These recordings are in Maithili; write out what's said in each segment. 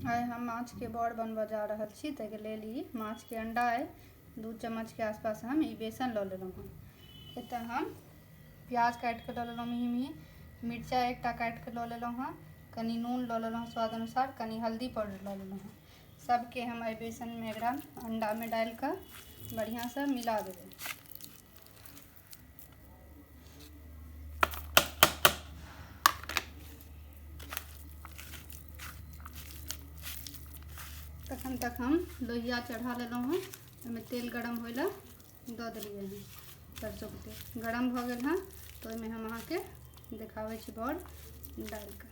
आइ हम माछके बड़ बनबऽ जा रहल छी ताहिके लेल ई माछके अंडा अइ दू चम्मचके आसपास हम ई बेसन लऽ लेलहुँ हँ एतऽ हम प्याज काटि कऽ लऽ लेलहुँ मिही मिही मिरचाइ एकटा काटि कऽ लऽ लेलहुँ हँ कनि नून लऽ लेलहुँ स्वाद अनुसार कनि हल्दी पाउडर लऽ लेलहुँ हँ सभके हम एहि बेसनमे एकरा अंडामे डालि कऽ बढ़िआँसँ मिला देबै तखन तक हम लोहिया चढ़ा लेलहुँ हँ ओहिमे तेल गरम होइ लए दऽ देलियै हँ सरसोके तेल गरम भऽ गेल हँ तऽ ओहिमे हम अहाँके देखाबै छी बड़ डालि कऽ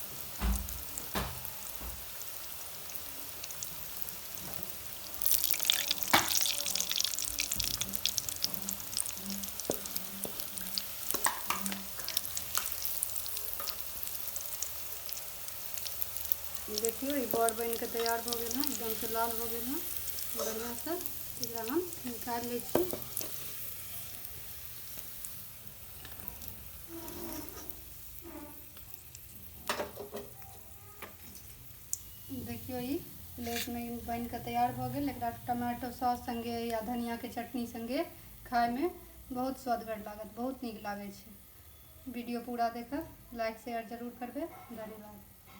देखियो ई बड़ बन के तैयार हो गए हैं एकदम से लाल हो गए हैं बढ़िया से एकरा हम निकाल ले छी देखियौ ई प्लेटमे ई बनि कऽ तैयार भऽ गेल एकरा टमाटो सॉस सङ्गे या धनियाके चटनी सङ्गे खायमे बहुत स्वादगर लागत बहुत नीक लागै छै वीडियो पूरा देखब लाइक शेयर जरूर करबै धन्यवाद